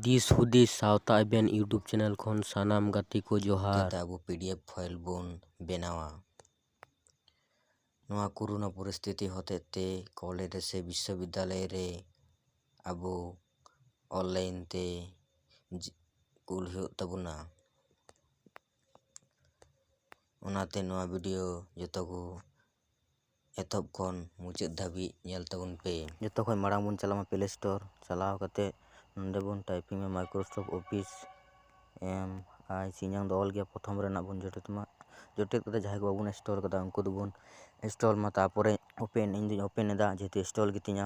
ᱫᱤᱥ ᱦᱩᱫᱤᱥ ᱥᱟᱶᱛᱟ ᱮᱵᱷᱮᱱ ᱤᱭᱩᱴᱩᱵᱽ ᱪᱮᱱᱮᱞ ᱠᱷᱚᱱ ᱥᱟᱱᱟᱢ ᱜᱟᱛᱮ ᱠᱚ ᱡᱚᱦᱟᱨ ᱪᱤᱠᱟᱹᱛᱮ ᱟᱵᱚ ᱯᱤ ᱰᱤ ᱮᱯᱷ ᱯᱷᱟᱭᱤᱞ ᱵᱚᱱ ᱵᱮᱱᱟᱣᱟ ᱱᱚᱣᱟ ᱠᱳᱨᱳᱱᱟ ᱯᱚᱨᱤᱥᱛᱷᱤᱛᱤ ᱦᱚᱛᱮᱡ ᱛᱮ ᱠᱚᱞᱮᱡᱽ ᱨᱮ ᱥᱮ ᱵᱤᱥᱥᱚ ᱵᱤᱫᱽᱫᱟᱞᱚᱭ ᱨᱮ ᱟᱵᱚ ᱚᱱᱞᱟᱭᱤᱱ ᱛᱮ ᱠᱩᱞ ᱦᱩᱭᱩᱜ ᱛᱟᱵᱚᱱᱟ ᱚᱱᱟᱛᱮ ᱱᱚᱣᱟ ᱵᱷᱤᱰᱤᱭᱳ ᱡᱚᱛᱚ ᱠᱚ ᱮᱛᱚᱦᱚᱵ ᱠᱷᱚᱱ ᱢᱩᱪᱟᱹᱫ ᱫᱷᱟᱹᱵᱤᱡ ᱧᱮᱞ ᱛᱟᱵᱚᱱ ᱯᱮ ᱡᱚᱛᱚ ᱠᱷᱚᱱ ᱢᱟᱲᱟᱝ ᱵᱚᱱ ᱪᱟᱞᱟᱜ ᱢᱟ ᱯᱞᱮ ᱥᱴᱳᱨ ᱪᱟᱞᱟᱣ ᱠᱟᱛᱮ ᱱᱚᱰᱮ ᱵᱚᱱ ᱴᱟᱭᱯᱤᱝ ᱢᱟ ᱢᱟᱭᱠᱨᱳᱥᱚᱯᱷᱴ ᱚᱯᱷᱤᱥ ᱮᱢ ᱟᱭ ᱥᱤ ᱤᱧᱟᱹᱝ ᱫᱚ ᱚᱞ ᱜᱮᱭᱟ ᱯᱨᱚᱛᱷᱚᱢ ᱨᱮᱱᱟᱜ ᱵᱚᱱ ᱡᱚᱴᱮᱫ ᱢᱟ ᱡᱚᱴᱮᱫ ᱠᱟᱛᱮ ᱡᱟᱦᱟᱸᱭ ᱠᱚ ᱵᱟᱵᱚᱱ ᱤᱱᱥᱴᱚᱞ ᱠᱟᱫᱟ ᱩᱱᱠᱩ ᱫᱚᱵᱚᱱ ᱤᱱᱥᱴᱚᱞ ᱢᱟ ᱛᱟᱨᱯᱚᱨᱮ ᱳᱯᱮᱱ ᱤᱧ ᱫᱩᱧ ᱳᱯᱮᱱ ᱮᱫᱟ ᱡᱮᱦᱮᱛᱩ ᱤᱱᱥᱴᱚᱞ ᱜᱮᱛᱤᱧᱟ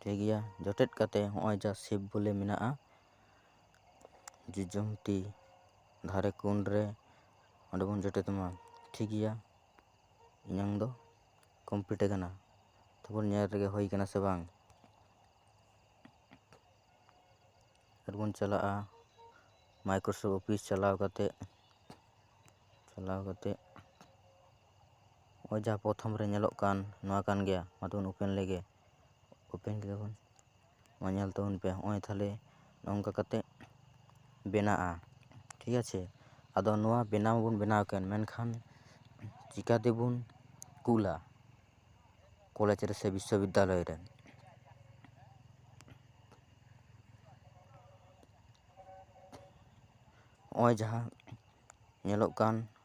ᱴᱷᱤᱠ ᱜᱮᱭᱟ ᱡᱚᱴᱮᱫ ᱠᱟᱛᱮ ᱦᱚᱸᱜᱼᱚᱭ ᱡᱟ ᱥᱤᱯ ᱵᱚᱞᱮ ᱢᱮᱱᱟᱜᱼᱟ ᱡᱚᱡᱚᱢ ᱛᱤ ᱫᱷᱟᱨᱮ ᱠᱳᱱ ᱨᱮ ᱚᱸᱰᱮ ᱵᱚᱱ ᱡᱚᱴᱮᱫ ᱢᱟ ᱴᱷᱤᱠ ᱜᱮᱭᱟ ᱤᱧᱟᱹᱝ ᱫᱚ ᱠᱚᱢᱯᱞᱤᱴ ᱟᱠᱟᱱᱟ ᱛᱟᱨᱯᱚᱨ ᱧᱮᱞ ᱨᱮᱜᱮ ᱦᱩᱭ ᱠᱟᱱᱟ ᱥᱮ ᱵᱟᱝ ᱟᱨᱵᱚᱱ ᱪᱟᱞᱟᱜᱼᱟ ᱢᱟᱭᱠᱨᱳᱥᱚᱯᱷᱴ ᱚᱯᱷᱤᱥ ᱪᱟᱞᱟᱣ ᱠᱟᱛᱮ ᱪᱟᱞᱟᱣ ᱠᱟᱛᱮ ᱱᱚᱜᱼᱚᱭ ᱡᱟᱦᱟᱸ ᱯᱨᱚᱛᱷᱚᱢ ᱨᱮ ᱧᱮᱞᱚᱜ ᱠᱟᱱ ᱱᱚᱣᱟ ᱠᱟᱱ ᱜᱮᱭᱟ ᱢᱟ ᱛᱚᱵᱮ ᱵᱚᱱ ᱳᱯᱮᱱ ᱞᱮᱜᱮ ᱳᱯᱮᱱ ᱠᱮᱫᱟ ᱵᱚᱱ ᱱᱚᱣᱟ ᱧᱮᱞ ᱛᱟᱵᱚᱱ ᱯᱮ ᱱᱚᱜᱼᱚᱭ ᱛᱟᱦᱞᱮ ᱱᱚᱝᱠᱟ ᱠᱟᱛᱮᱜ ᱵᱮᱱᱟᱜᱼᱟ ᱴᱷᱤᱠ ᱟᱪᱷᱮ ᱟᱫᱚ ᱱᱚᱣᱟ ᱵᱮᱱᱟᱣ ᱢᱟᱵᱚᱱ ᱵᱮᱱᱟᱣ ᱠᱮᱜ ᱢᱮᱱᱠᱷᱟᱱ ᱪᱤᱠᱟ ᱛᱮᱵᱚᱱ ᱠᱩᱞᱟ ᱠᱚᱞᱮᱡᱽ ᱨᱮᱥᱮ ᱵᱤᱥᱥᱚ ᱵᱤᱫᱽᱫᱟᱞᱚᱭ ᱨᱮ ᱱᱚᱜᱼᱚᱭ ᱡᱟᱦᱟᱸ ᱧᱮᱞᱚᱜ ᱠᱟᱱ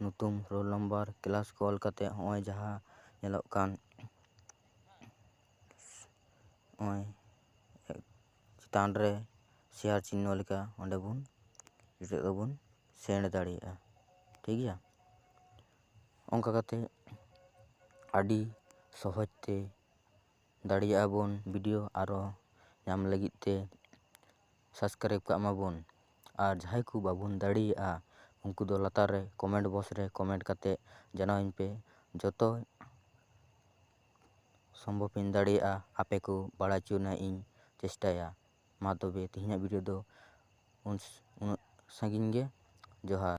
ᱧᱩᱛᱩᱢ ᱨᱳᱞ ᱱᱟᱢᱵᱟᱨ ᱠᱞᱟᱥ ᱠᱚ ᱚᱞ ᱠᱟᱛᱮ ᱦᱚᱸᱜᱼᱚᱭ ᱡᱟᱦᱟᱸ ᱧᱮᱞᱚᱜ ᱠᱟᱱ ᱦᱚᱸᱜᱼᱚᱭ ᱪᱮᱛᱟᱱ ᱨᱮ ᱥᱮᱭᱟᱨ ᱪᱤᱱᱦᱟᱹ ᱞᱮᱠᱟ ᱚᱸᱰᱮ ᱵᱚᱱ ᱱᱤᱛᱚᱜ ᱫᱚᱵᱚᱱ ᱥᱮᱱᱰ ᱫᱟᱲᱮᱭᱟᱜᱼᱟ ᱴᱷᱤᱠ ᱜᱮᱭᱟ ᱚᱱᱠᱟ ᱠᱟᱛᱮ ᱟᱹᱰᱤ ᱥᱚᱦᱚᱡ ᱛᱮ ᱫᱟᱲᱮᱭᱟᱜ ᱟᱵᱚᱱ ᱵᱷᱤᱰᱤᱭᱳ ᱟᱨᱚ ᱧᱟᱢ ᱞᱟᱹᱜᱤᱫ ᱛᱮ ᱥᱟᱵᱥᱠᱨᱟᱭᱤᱵᱽ ᱠᱟᱜ ᱢᱟᱵᱚᱱ ᱟᱨ ᱡᱟᱦᱟᱸᱭ ᱠᱚ ᱵᱟᱵᱚᱱ ᱫᱟᱲᱮᱭᱟᱜᱼᱟ ᱩᱱᱠᱩ ᱫᱚ ᱞᱟᱛᱟᱨ ᱨᱮ ᱠᱚᱢᱮᱱᱴ ᱵᱚᱠᱥ ᱨᱮ ᱠᱚᱢᱮᱱᱴ ᱠᱟᱛᱮᱫ ᱡᱟᱱᱟᱣ ᱟᱹᱧ ᱯᱮ ᱡᱚᱛᱚ ᱥᱚᱢᱵᱷᱚᱵ ᱤᱧ ᱫᱟᱲᱮᱭᱟᱜᱼᱟ ᱟᱯᱮ ᱠᱚ ᱵᱟᱲᱟᱭ ᱦᱚᱪᱚ ᱨᱮᱱᱟᱜ ᱤᱧ ᱪᱮᱥᱴᱟᱭᱟ ᱢᱟ ᱛᱚᱵᱮ ᱛᱮᱦᱮᱧᱟᱜ ᱵᱷᱤᱰᱤᱭᱳ ᱫᱚ ᱩᱱᱟᱹᱜ ᱥᱟᱺᱜᱤᱧ ᱜᱮ ᱡᱚᱦᱟᱨ